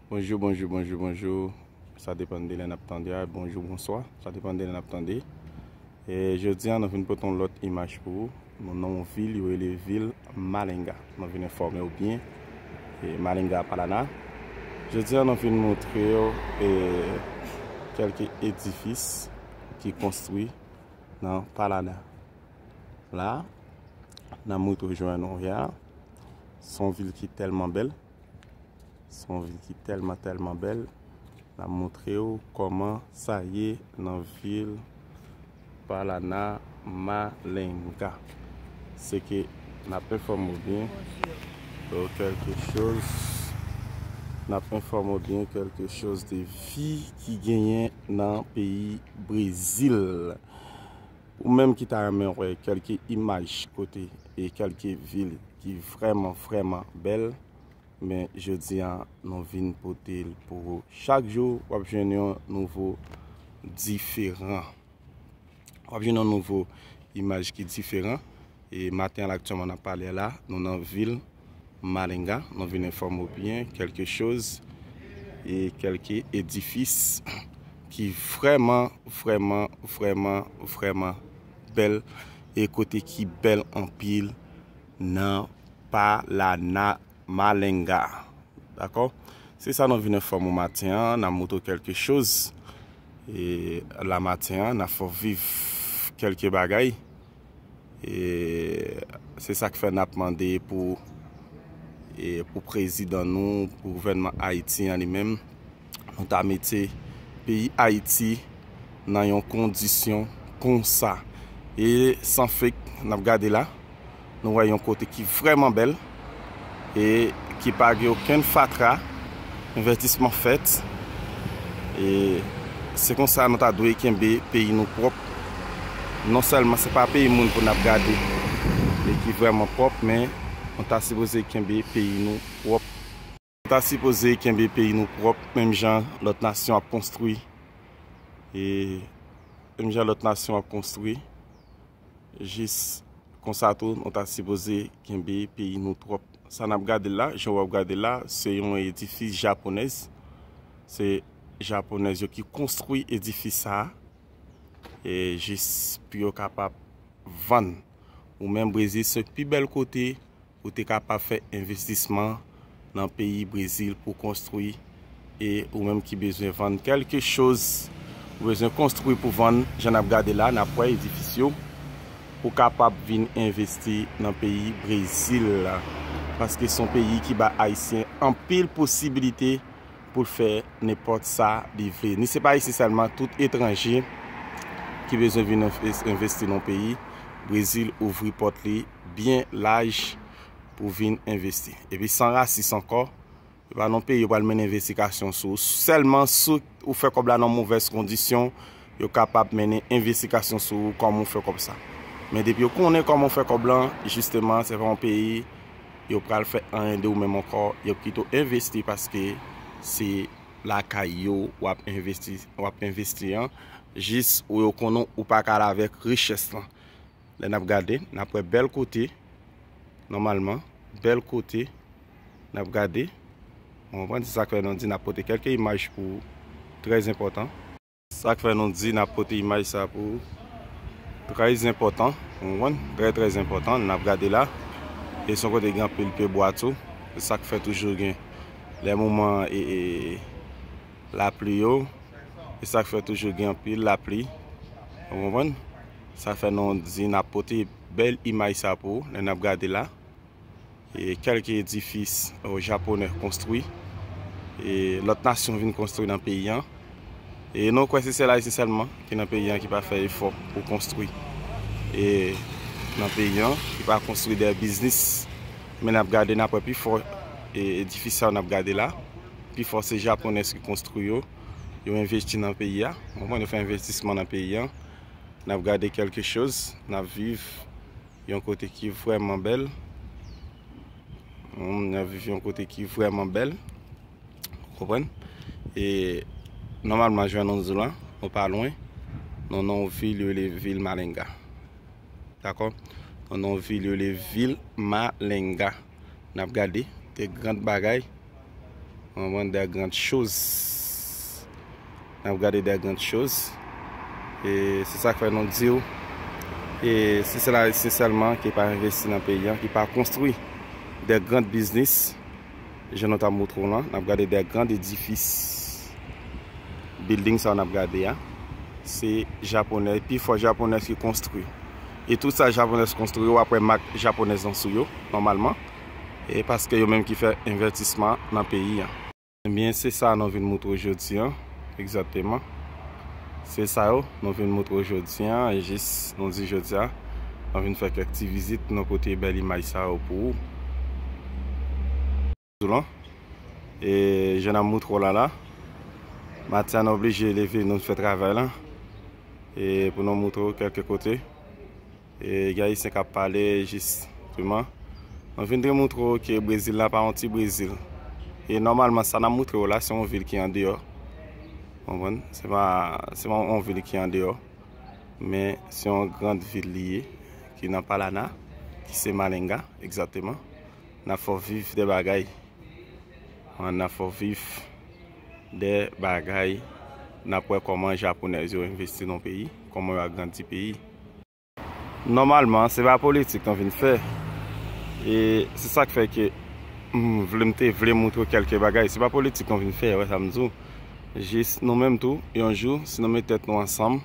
Bonjou bonjou bonjou bonjou Sa depan de lè nap tande a Bonjou bonswa Sa depan de lè nap tande E jodi an nou vin pote yon lòt imaj pou ou Nou nan yon vil yo rele vil Malenga Nou vin enfòme ou byen E Malenga Palana Jodi an nou vin montre yo E Kèlke edifis Ki konstwi Nan Palana La Nan mout ou jwenn ou ya Son vil ki tèlman bèl. Son vil ki tèlman tèlman bèl. Na moutre ou kòman sa ye nan vil Palana Malenga. Se ke na pen fòm ou byen. Ou kèlke choz. Na pen fòm ou byen kèlke choz de vi ki genyen nan peyi Brezil. Ou menm ki ta renmen wè kelke imaj kote e kelke vil ki vrèman vrèman bèl men jodi an nou vin pote l pou ou. Chak jou wap jwenn yon nouvo diferan. Wap jwenn yon nouvo imaj ki diferan e maten an aktyèlman nap pale a la nou nan vil. Malinga, nou vin enfòme ou byen kèlke choz e kèlke edifis ki vrèman, vrèman, vrèman, vrèman bèl e kote ki bèl anpil nan Palana Malinga. Dakò? Se sa nou vin enfòme ou maten an, nan moutre ou kèlke choz e la maten an, nan fè ou viv kèlke bagay. Se sak fè nap mande pou prezidan nou, pou gouvènman Ayiti an li menm, nou ta mete peyi Ayiti nan yon kondisyon konsa. E san fek nap gade la, nou wè yon kote ki vreman bèl. e ki pa gen okenn fatra, envètisman fèt e se konsa nou ta dwe kenbe peyi nou pwòp, non sèlman se pa peyi moun pou n ap gade e ki vrèman pwòp men nou ta sipoze kenbe peyi nou pwòp. Ta sipoze kenbe peyi nou prop menm jan lot nasyon ap konstwi e menm jan lot nasyon ap konstwi jis konsa tou nou ta sipoze kenbe peyi nou prop. Sa nap gade la, jan wap gade la se yon edifis japonèz se japonèz yo ki konstwi edifis sa e jis pou yo kapab vann ou menm brezil se pi bèl kote Ou te kapab fè envestisman nan peyi Brezil pou konstwi e ou menm ki bezwen vann kelke choz ou bezwen konstwi pou vann jan nap gade la nap wè edifis yo ou kapab vin envesti nan peyi Brezil la paske son peyi ki ba ayisyen anpil posibilite poul fè nenpòt sa li vle ni se pa ayisyen sèlman tout etranje ki bezwen vin envesti nan peyi Brezil ouvri pòt li. byen laj pou vin envesti. Epi san rasis ankò, se pa nan peyi yo pral mennen envestikasyon sou ou. Sèlman si ou fè kòb la nan movèz kondisyon, yo kapab mennen envestikasyon sou ou kòman ou fè kòb sa. Men depi yo konnen kòman ou fè kòb lan, jisteman se pa yon peyi yo pral fè anyen de ou menm ankò. Yo ap kite w envesti paske se lakay yo w ap envesti an. Jis ou yo konnen ou pa ka ale avèk richès lan. Lè nap gade nap wè bèl kote nòmalman bèl kote nap gade ou konprann se sak fè nou di nap pote kèlke imaj pou ou trèz enpòtan. Sak fè nou di nap pote imaj sa pou ou trèz enpòtan ou konprann trè trèz enpòtan nap gade la e son kote gen anpil pye bwa tou se sak fè toujou gen lè moman ee lapli yo se sak fè toujou gen anpil lapli ou konprann Sa fè nou di nap pote bèl imaj sa pou ou lè nap gade la e kèlke edifis ou japonè konstwi e lòt nasyon vin konstwi nan peyi an e nou kwè se sèl ayisyen sèlman ki nan peyi an ki pa fè efò pou konstwi e nan peyi an ki pa konstwi dè biznis men nap gade nap wè pi fò e edifis sa yo nap gade la pi fò se japonèz ki konstwi yo yo envesti nan peyi a yo fè envestisman nan peyi an N ap gade kèlke choz, n ap viv yon kote ki vrèman bèl, humm, n ap viv yon kote ki vrèman bèl, ou konprann, e nòmalman Juan-Anzul an, nou pa lwen, nou nan yon vil yo rele vil Malenga, dakò, nou nan yon vil yo rele vil Malenga. Nap gade de grand bagay Anvan de grand choz Nap gade de grand choz E se sak fè nou diw E si se la ayisyen selman ki pa investi nan peyi an Ki pa konstri de grand biznis Je nou ta moutre w lan Nap gade de grand edifis Building sa nap gade a Se japonè Pi fò japonè ki konstri E tout sa japonèz konstwi wap wè mak japonèz lan sou yo nòmalman e paske yo menm ki fè envètisman nan peyi an. Ebyen se sa nou vin moutre w jodi an egzakteman se sa yo nou vin moutre w jodi an e jis nou di jodi a nou vin fè kèk ti vizit nou pote bèl imaj sa yo pou ou. Zoulan e jeune amour tro lala Matiana oblije leve nou fè travay lan e pou nou moutre w kelke kote e gen ayisyen kap pale jis teman nou vin dre moutre w ke brezil la pa yon ti brezil e nòmalman sa nap moutre w la se yon vil ki andeyò konprann se pa se pa yon vil ki andeyò men se yon grand vil li ye ki nan palana ki se malenga egzateman Nap fè w viv de bagay. An nap fè w viv de bagay. Nap wè kòman japonèz yo envesti nan peyi. Kòman yo agrandi peyi. Nòmalman se pa politik nou vin fè. E se sak fè ke m vle m te vle moutre w kèlke bagay. Se pa politik nou vin fè. Wè sa m di w. Jis nou menm tou yon jou si nou met tèt nou ansanm.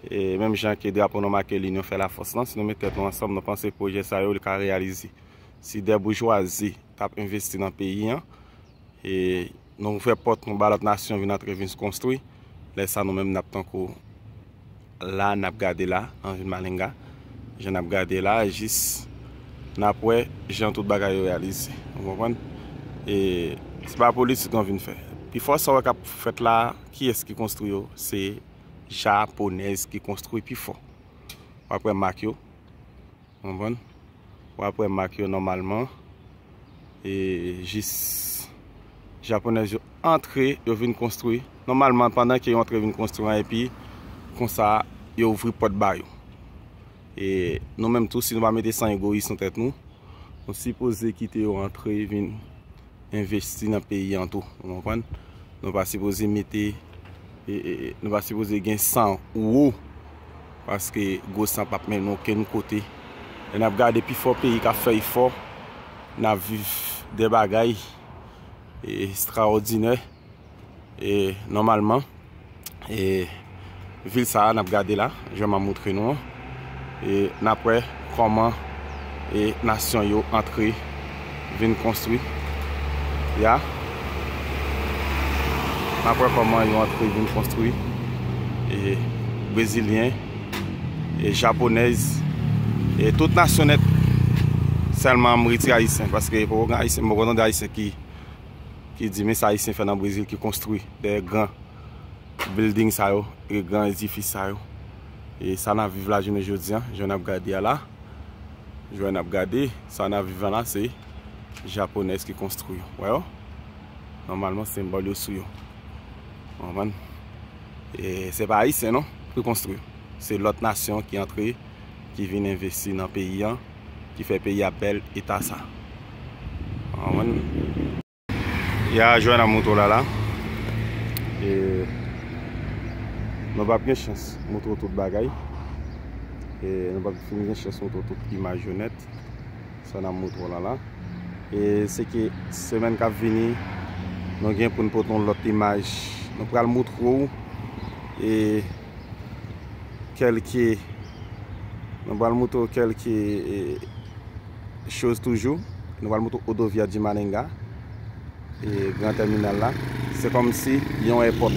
E menm jan ke drapo nou make linyon fè lafòs lan, si nou met tèt nou ansanm, nou panse pwojè sa yo li ka reyalize. Si dè boujwazi t ap envesti nan peyi an, e nou ouvè pòt nou ba lòt nasyon vin antre vin konstwi, lè sa nou menm n ap tankou la n ap gade la nan vil Malinga, jan n ap gade la a jis n ap wè jan tout bagay yo reyalize. Ou konprann? E se pa politik nou vin fè. Pifò sa w wè k ap fèt la a, kiyès ki konstwi yo? Se. Japonèz ki konstwi pi fò. W ap wè mak yo. Konprann? W ap wè mak yo nòmalman. E jis Japonèz yo antre, yo vin konstwi. Nòmalman, pandan ke yo antre vin konstwi an, epi konsa yo ouvri pòt ba yo. E nou menm tou, si nou pa mete san egoyis nan tèt nou, nou sipoze kite yo antre vin envesti nan peyi an tou ou konprann nou pa sipoze mete nou pa sipoze gen san ou paske gwo san pap mennen nou okenn kote lè nap gade pi fò peyi kap fè efò nap viv de bagay estraòdinè. Nòmalman, vil sa a n ap gade la, jan m ap montre nou an, n ap wè kòman nasyon yo antre vin konstwi y a. N ap wè kòman yo antre vin konstwi. Brezilyen, Japonèz, tout nasyon nèt. Sèlman m retire Ayisyen, paske poko gen Ayisyen, m poko tande Ayisyen ki ki di men sa Ayisyen fè nan Brezil ki konstwi dèyè gran bilding sa yo, e gran edifis sa yo. E sa n ap viv la jounen jodi an, jan n ap gade a la, jan n ap gade sa n ap viv an la se Japonèz ki konstwi yo. Wè yo? Nòmalman senbòl yo sou yo. Ou konprann? E se pa Ayisyen non ki konstwi yo. Se lòt nasyon ki antre. ki vin envesti nan peyi an ki fè peyi a bèl eta sa ou konprann. Ya jwenn a moto la la e nou pap gen chans moutre w tout bagay e nou pap fin gen chans moutre w tout imaj yo nèt sa nap moutre w la la e se ke semèn kap vini nou gen pou nou pote yon lòt imaj nou pral moutre w e kelke nou pral moutre w kelke choz toujou nou pral moutre w odovia di maninga e gran tèminal la se kòm si yon èpòt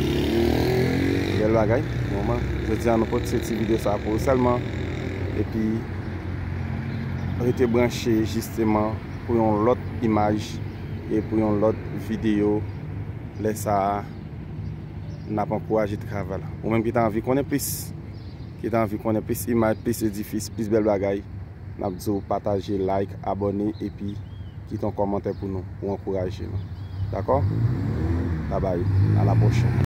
bèl bagay mouman jodi a nou pote ti video sa pou ou sèlman epi rete branche jisteman pou yon lòt imaj e pou yon lòt video lè sa a n ap ankouraje travay la. Ou menm ki ta anvi konnen plis, ki ta anvi konnen plis imaj, plis edifis, plis bèl bagay, n ap di w pataje, like, abòne epi kite yon kòmantè pou nou, pou ankouraje nou. Dakò? Babay, a la pwochèn.